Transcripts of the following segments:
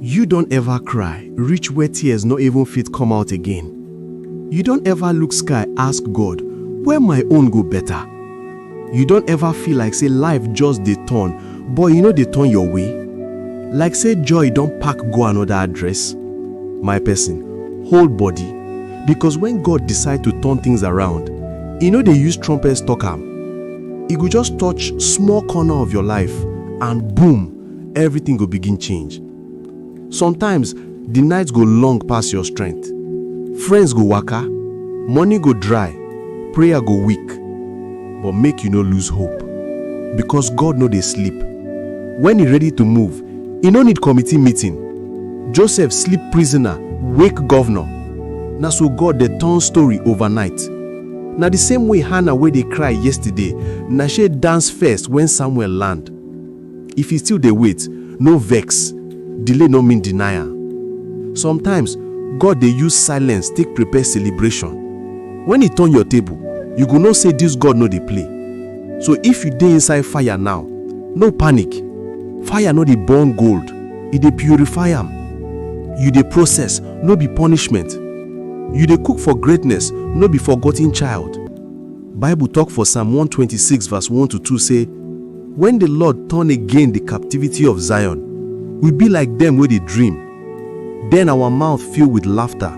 You don ever cry reach where tears no even fit come out again? You don ever look sky ask God, where my own go better? You don ever feel like say life just dey turn but e no dey turn your way? Like say joy don pack go another address? My person, hold body because when God decide to turn things around, e no dey use trumpets talk am. E go just touch small corner of your life and boom! everything go begin change. Sometimes, the night go long pass your strength. Friends go waka, money go dry, prayer go weak. But make you no lose hope because God no dey sleep. When he ready to move, he no need committee meeting. Joseph sleep prisoner, wake governor. Na so God dey turn story overnight. Na the same way Hannah wey dey cry yesterday, na she dance first when Samuel land. If you still dey wait, no vex, delay no mean denial. Sometimes, God dey use silence take prepare celebration. When He turn your table, you go know say this God no dey play. So if you dey inside fire now, no panic. Fire no dey burn gold, e dey purify am. You dey process, no be punishment. You dey cook for greatness, no be forgotten child. Bible tok for Psalm one twenty six vs one to two sey, Wen di Lord turn again di captivity of Zion, we be like dem wey dey dream. Den awa mouth fill wit lafta,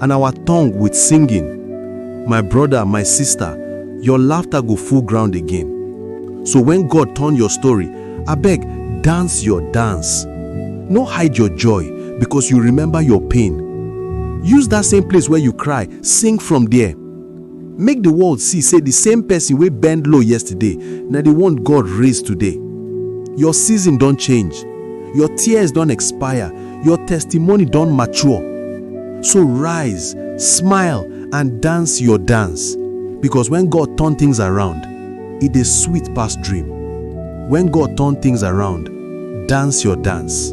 and awa tongue wit singing. My broda, my sista, your lafta go full ground again. So wen God turn your story, abeg dance your dance. No hide your joy becos you remember your pain. Use dat same place where you cry, sing from there. Make di world see sey di same pesin wey bend low yesterday na di one God raise today. Your season don change, your tears don expire, your testimony don mature. So rise, smile and dance your dance because when God turn things around, e dey sweet pass dream. When God turn things around, dance your dance.